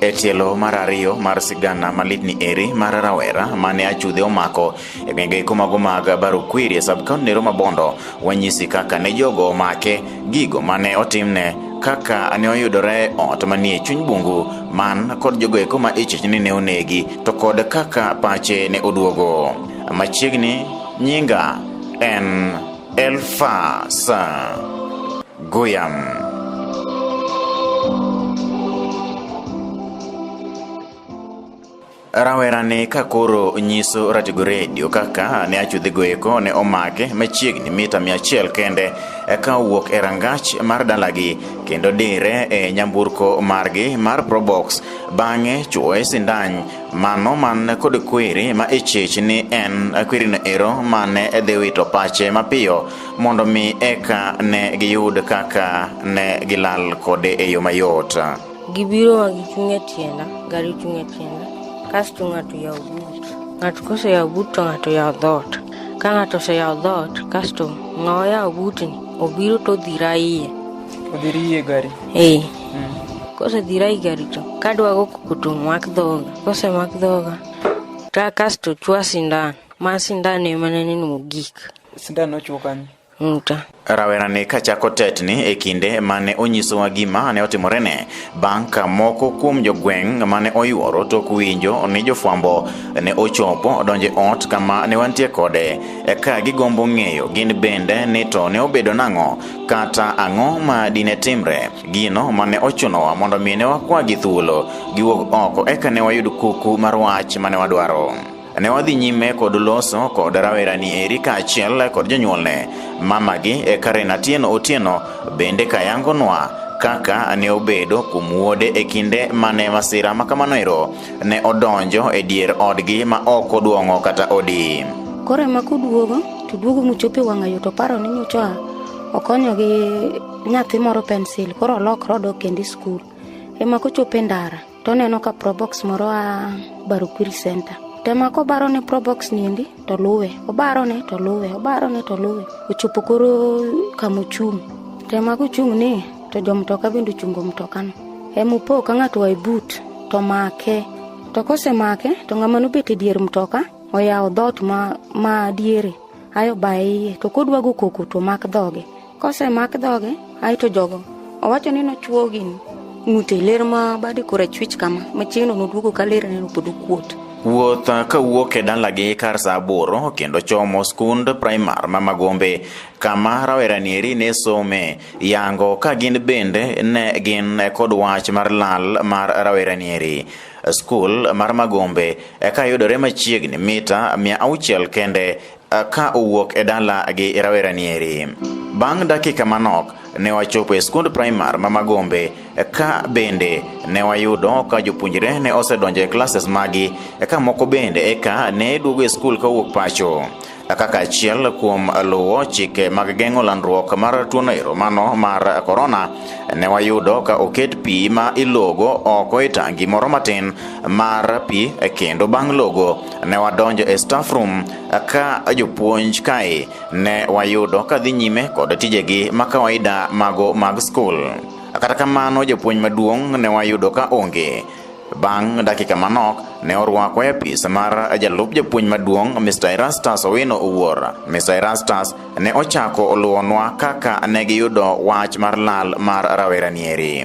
e tielo mar ariyo mar sigana malidni eri mar rawera mane achudhe omako e gwenge iko mago mag barukwiri e sabkaunti ne roma bondo wanyisi kaka ne jogo omake gigo mane otimne kaka ne oyudore ot manie chuny bungu man kod jogo eko ma ichich ni ne onegi to kod kaka pache ne oduogo machiegni nyinga en Elfa Sa Goyam. rawerani ka koro nyiso Ratigo Redio kaka ne achudhigo eko ne omake machiegni mita mia achiel kende eka owuok e rangach mar dalagi kendo dire e nyamburko margi mar Probox bang'e chuoye sindan Mano man kod kwiri ma ichich ni en kwirino ero ma ne dhi wito pache mapiyo mondo mi eka ne giyud kaka ne gilal kode e yo mayot. Gibiro ma gichung' e tienda, gari chung' e tienda, kasto ng'ato yawo but. Ng'ato koseyawo but to ng'ato yawo dhoot. Ka ng'ato oseyawo dhoot, kasto ng'awa yawo butni, obiro to odhira iye. Udhirie gari. Eh. Mm. Kose dhirai gari to kadwa go kutu mak dhoga. Kose mak dhoga. Ta kasto chwa sindan. Ma sindan ema ne ni mogik. Sindan nochwo kanyo. Nta. Rawerani kachako tetni e kinde mane onyisowa gima ne otimorene bang' ka moko kuom jogweng' mane oyuoro tok winjo ni jofwambo ne ochopo donje ot kama ne wantie kode eka gigombo ng'eyo gin bende ni to ne obedo nang'o Kata ang'o ma dine timre? Gino mane ochunowa mondo mi ne wakwagi thuolo giwuog oko eka ne wayud kuku mar wach mane wadwaro. Ne wadhi nyime kod loso kod rawerani eri kaachiel kod jonyuolne. Mamagi e Karen Atieno Otieno bende kayangonwa kaka ne obedo kuom wuode e kinde mane masira ma kamano ero ne odonjo e dier odgi ma ok oduong'o kata odi. Koro ema koduogo To duogo mochopo e wang'ayo to oparo ni nyocha okonyo gi nyathi moro pensil koro olokre odok kendo e skul. Ema kochopo e ndara to oneno ka probox moro a Barukwiri Center. To ema kobaro ne probox niendi to luwe. Obaro ne to luwe, obaro ne to luwe. Ochopo koro kama ochung'. To ema kochung' ni to jo mtoka bende ochungo mtokano. Ema opo ka ng'ato oa e but to omake. To kosemake to ng'ama nobet e dier mtoka oyawo dhoot ma, ma diere ae obaye iye to kodwa go koko to mak dhoge kosemak dhoge ae to jogo owacho ni nochwo gini ng'ute ler ma bade korachwich kama machiegno noduogo ka ler neno pod okuot Wuoth ka wuok e dalagi kar saa aboro kendo chomo skund primar ma Magombe kama rawerani eri ne some yango ka gin bende ne gin kod wach mar lal mar rawerani eri. Skul mar Magombe eka yudore machiegni mita mia auchiel kende ka owuok e dala gi rawera nieri. Bang' dakika manok ne wachopo e skund primar ma Magombe ka bende ne wayudo ka jopuonjre ne osedonjo e classes magi ka moko bende eka ne duogo e skul kowuok pacho. kaka achiel kuom luwo chike mag geng'o landruok mar tuono ero mano mar korona, ne wayudo ka oket pi ma ilogo oko e tangi moro matin mar pi e kendo bang' logo ne wadonjo e staff room ka jopuonj kae ne wayudo ka dhi nyime kod tijegi ma kawaida mago mag skul. Kata kamano jopuonj maduong' ne wayudo ka onge Bang' dakika manok, ne orwako e apis mar jalup japuonj maduong' Mr. Erastus Owino Owuor. Mr. Erastus ne ochako oluwonwa kaka ne giyudo wach mar lal mar rawera nieri.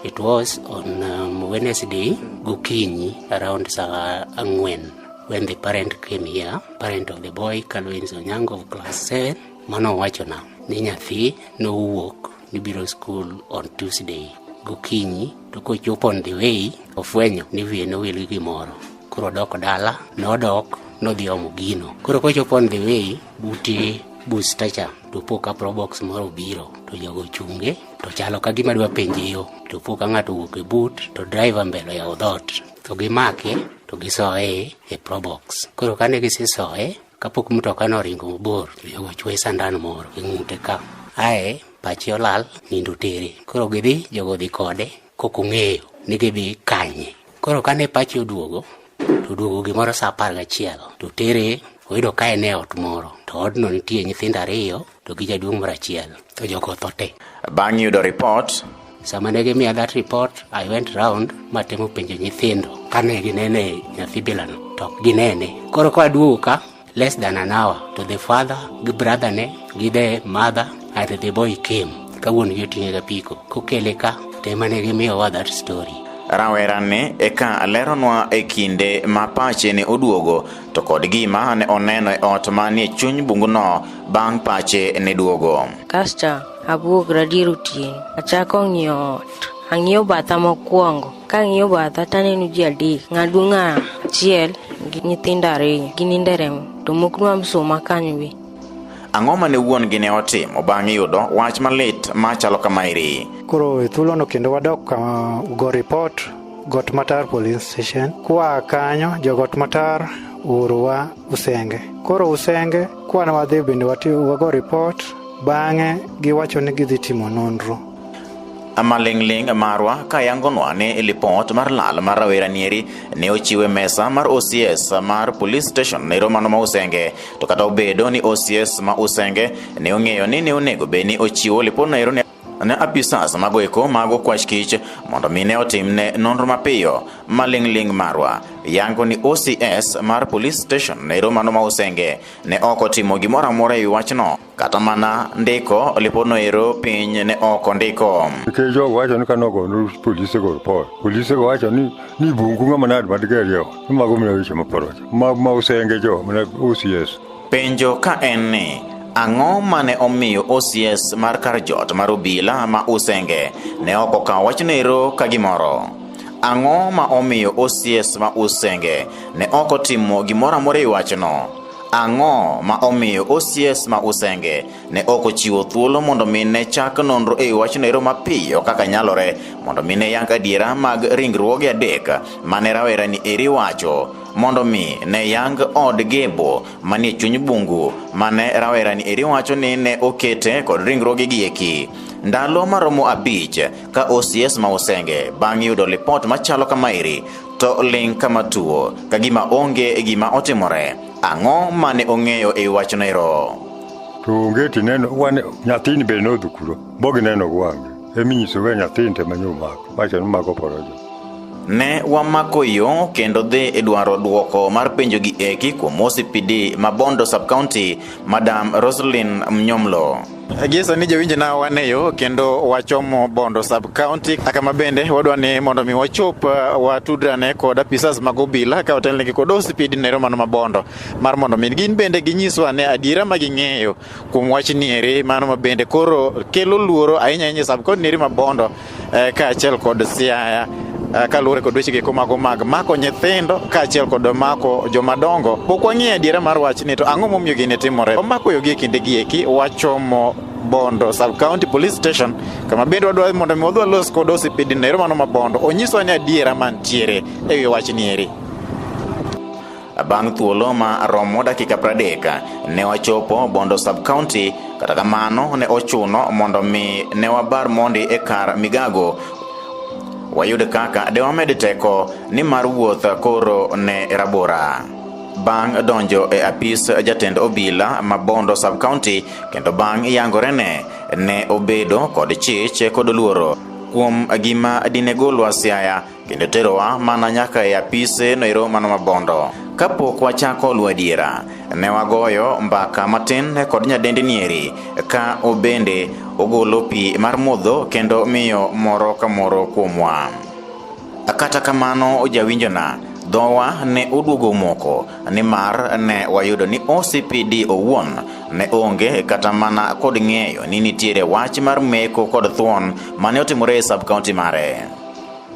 It was on um, Wednesday gokinyi around saa ang'wen when the parent came here, parent of the boy Kalwins Onyango of class 7 mano owachona ni nyathi nowuok Nibiro skul on Tuesday gokinyi to kochopo on the way ofwenyo ni wiye nowil gi gimoro koro odok dala nodok nodhi omo gino koro kochopo on the way bute busta cha to po ka probox moro obiro to jogo chunge to chalo ka gima dwa penje yo to po ka ng'ato owuok e but to driver mbele ya odhot to gimake to gisoye e probox koro kane gisesoye kapok mtoka no oringo mabor jogo chwe sandan moro e ng'ute ka ae pache olal nindo tere koro gidhi jogo dhi kode kok ong'eyo ni gidhi kanye koro kane pache oduogo to oduogo gimoro sa apar gachiel to tere oyudo ka en e ot moro to odno nitie nyithindo ariyo to gijaduong' moro achiel to jogo otho te bang' yudo ripot sama ne gimiya that report i went round matemo penjo nyithindo kane ginene nyathi bilano to ok ginene koro ka aduogo ka less than an hour to the father gi brother ne gi the mother and the boy came ka wuon gi oting'e ga piko kokele ka to ema ne gimiyowa that story rawerani eka leronwa e kinde ma pache ne oduogo to kod gima ne oneno e ot manie chuny bunguno bang' pache ne duogo. Kasto abuok radier otieno, achako ng'iyo ot. Ang'iyo batha mokwongo, kang'iyo batha taneno ji adek, ng'aduong' achiel gi nyithindo ariyo, ginindo e remo, to moko ma msuma kanyo be. Ang'o ma ne wuon gi ne otimo bang' yudo wach malit machalo kamaeri? Koro e thuolono kendo wadok uh, go report Got Matar Police Station. Kwa kanyo jo Got Matar uruwa Usenge. Koro Usenge kwana wadhi bende wago report bang'e giwacho ni gidhi timo nonro. Amaling'ling' marwa kayangonwa ni e lipot mar lal mar rawera nieri ne ochiwe mesa mar OCS mar police station ne romano ma Usenge to kata obedo ni OCS ma Usenge ne ong'eyo ni ne onego bed ni ochiwo lipot no ne apisas mago eko mago kwach kich mondo mi ne otimne nonro mapiyo maling'ling' marwa yango ni OCS mar police station ne romano ma usenge ne ok otimo gimoro amora e wachno kata mana ndiko lipodno ero piny ne ok ondiko nikech jogo wacho ni kane ogono polise go report polise go wacho ni ni bungu ng'ama nade madigerie ni mago mna weche maporoch ma usenge jo mna OCS Penjo ka en ni, ang'o mane omiyo OCS mar kar jot mar obila ma Usenge ne ok okawo wachno ero ka gimoro? Ang'o ma omiyo OCS ma Usenge ne ok otimo gimoro amora e wachno? Ang'o ma omiyo OCS ma Usenge ne ok ochiwo thuolo mondo mi ne chak nonro e wachno ero mapiyo kaka nyalore mondo mi ne yang adiera mag ringruoge adek mane rawerani eri wacho mondo mi ne yang od Gebo manie chuny bungu mane rawerani eri wacho ni ne okete kod ringruoge gieki. Ndalo maromo abich ka OCS ma Usenge bang' yudo lipot machalo kama eri to ling' kama tuo ka gima onge gima otimore. Ang'o mane ong'eyo e wachno ero? To onge tineno wane nyathini be nodhukuro bogineno gwange eminyisoga nyathini te manyomako wacho ni mago porojo Ne wamako yo kendo dhi e dwaro dwoko mar penjo gi eki kuom OCPD ma Bondo Sub-County, Madam Roslyn Mnyomlo. Gie sani jowinjo na wane yo kendo wachomo Bondo Sub-County kama bende wadwa ni mondo mi wachop uh, watudrane kod apisas mag obila ka otelnegi kod OCPD nero mano ma Bondo mar mondo mi gin bende ginyiswa ne adiera ma ging'eyo kuom wach nieri mano ma bende koro kelo luoro ahinya ahinya e sub-county neri ma Bondo eh, kaachiel kod Siaya eh, kaluwore kod weche geko mago mag mako nyithindo kaachiel kod mako jomadongo pok wang'eyo adiera mar wachni to ang'o momiyo gini timore omako yogi e kinde gi eki wachomo Bondo sub county police station kama bende wadwa mondo mi wadwa los kod osipidi nero mano ma Bondo onyiswa ni adiera mantiere e wi wachni eri Bang' thuolo ma romo dakika pradek, ne wachopo Bondo sub-county, kata kamano ne ochuno mondo mi ne wabar mondi e kar migago wayud kaka de wamed teko ni mar wuoth koro ne rabora. Bang' donjo e apis jatend obila ma Bondo sub-county kendo bang' yangorene ne obedo kod chich kod luoro kuom gima dine golwa siaya kendo terowa mana nyaka e apise noero mano mabondo kapok wachako luwo adiera ne wagoyo mbaka matin kod nyadendi nieri ka obende ogolo pi mar modho kendo miyo moro ka moro kuomwa kata kamano ojawinjona dhowa ne oduogo moko nimar ne wayudo ni OCPD owuon ne onge kata mana kod ng'eyo ni nitiere wach mar meko kod thuon mane otimore e sub-county mare.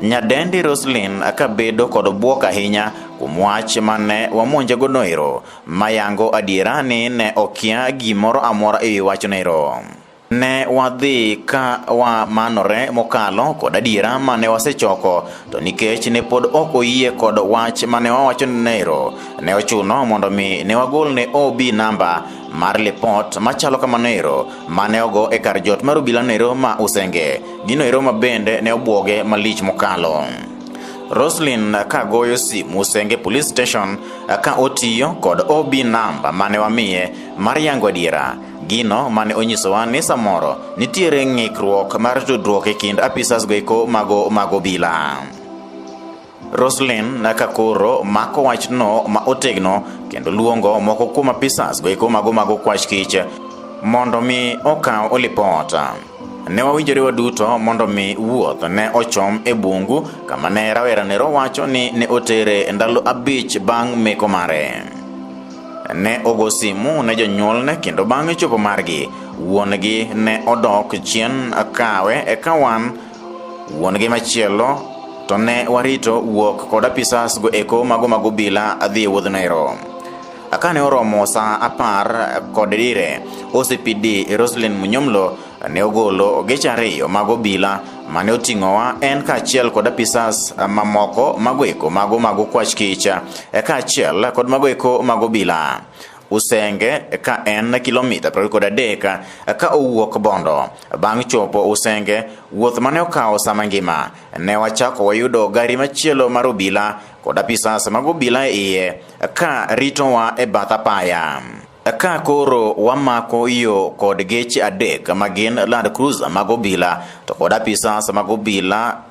Nyadendi Roslyn akabedo kod bwok ahinya kuom wach mane wamonje go noero, mayango adiera ni ne okia gimoro amora e wi wach noero. Ne wadhi ka wamanore mokalo kod adiera mane wasechoko, to nikech ne pod ok oyie kod wach mane wawacho noero, ne ochuno mondo mi ne wagol ne OB namba mar lipot machalo kamanoero mane ogo e kar jot mar obila noero ma Usenge. Gino ero ma bende ne obwoge malich mokalo. Roslyn ka goyo simu Senge Police Station ka otiyo kod OB namba mane wamiye mar yango adiera. Gino mane onyisowa ni samoro nitiere ng'ikruok mar tudruok e kind apisas goeko mago mag obila. Roslyn naka koro mako wachno ma otegno kendo luongo moko kuom apisas goeko mago mago kwach kich mondo mi okaw olipota. Ne wawinjore waduto mondo mi wuoth ne ochom e bungu kama ne rawera nero wacho ni ne otere ndalo abich bang' meko mare. Ne ogo simu ne jonyuolne kendo bang' chopo margi, wuon-gi ne odok chien kawe eka wan Wuongi machielo to ne warito wuok kod apisas go eko mago mag obila adhi e wuodh Nairo. Akane oromo sa apar kod dire, OCPD Roslyn Munyomlo ne ogolo ogeche ariyo mag obila mane oting'owa en kaachiel kod apisas mamoko mago eko mago mago kwach kich e kaachiel kod mago eko mago obila. Usenge ka en kilomita piero kod adek ka owuok Bondo. Bang' chopo Usenge, wuoth mane okawo sama ngima, ne wachako wayudo gari machielo mar obila kod apisas mag obila e iye ka ritowa e bath apaya. Ka koro wamako yo kod geche adek ma gin Land Cruiser mag obila to kod apisas mag obila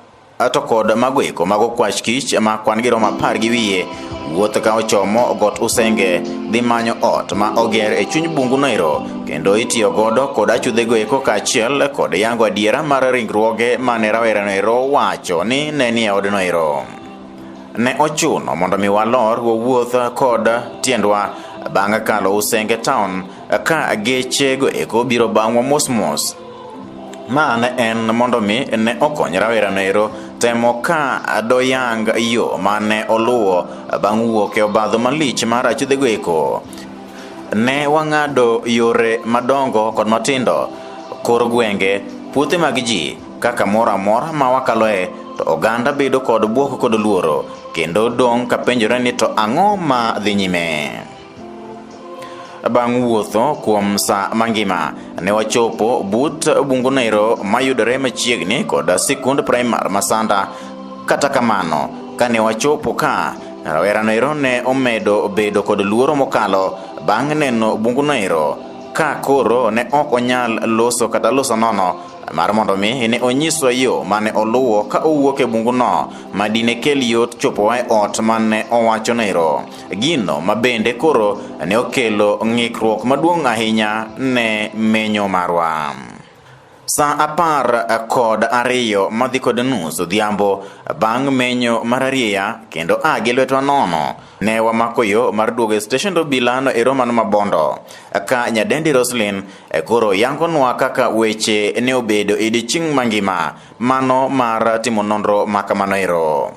to kod mago eko mago kwach kich ma kwan gi romo apar gi wiye wuoth ka ochomo got usenge dhi manyo ot ma oger e chuny bungu noero kendo itiyo godo kod achudhego eko kaachiel kod yango adiera mar ringruoge mane rawera noero wacho ni ne nie od noero ne ochuno mondo mi walor wawuoth kod tiendwa bang' kalo usenge town ka gechego eko biro bang'wa mosmos Ma ne en mondo mi ne okony rawera noero temo ka doyang yo ma ne oluwo bang' wuok e obadho malich mar achudhego eko. Ne wang'ado yore madongo kod matindo, kor gwenge, puothe mag ji, kaka moro amora ma wakaloe to oganda bedo kod bwoko kod luoro kendo dong' kapenjore ni to ang'o ma dhi nyime. Bang' wuotho kuom sa mangima, ne wachopo but Bungunero mayudore machiegni kod sikund primar Masanda. Kata kamano, kane wachopo ka, rawerano ero ne omedo bedo kod luoro mokalo bang' neno Bungunero ka koro ne ok onyal loso kata loso nono mar mondo mi ne onyiswa yo mane oluwo ka owuok e bunguno ma dine kel yot chopowa e ot mane owacho nero. Gino ma bende koro ne okelo ng'ikruok maduong' ahinya ne menyo marwa. Sa apar kod ariyo madhi kod nus odhiambo bang' menyo mar arieya kendo a gi lwetwa nono ne wamako yo mar duogo e steshend obila no e Roman Mabondo ka nyadendi Roslyn koro yangonwa kaka weche ne obedo e odiechieng' mangima mano mar timo nonro ma kamano ero.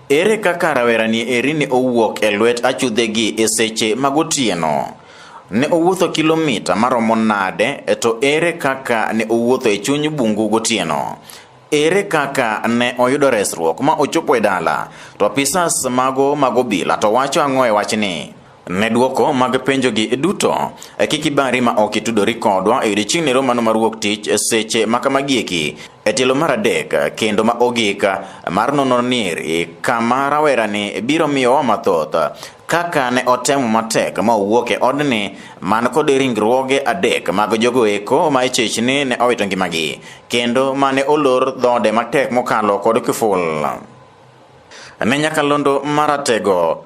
Ere kaka rawerani eri ne owuok e lwet achudhegi e seche mag otieno? Ne owuotho kilomita maromo nade, e to ere kaka ne owuotho e chuny bungu gotieno? Ere kaka ne oyudo resruok ma ochopo e dala? To apisas mago mag obila to wacho ang'o e wachni? Ne dwoko mag penjogi duto, e kik ibari ma ok itudori kodwa e odiechieng'ni romano mar wuok tich e seche ma kamagieki e tielo mar adek kendo ma ogik mar nono niri kama rawerani biro miyowa mathoth kaka ne otemo matek ma owuok e odni man kod ringruoge adek mag jogo eko ma ichechni ne owito ngimagi kendo mane olor dhode matek mokalo kod kiful ne nyakalondo maratego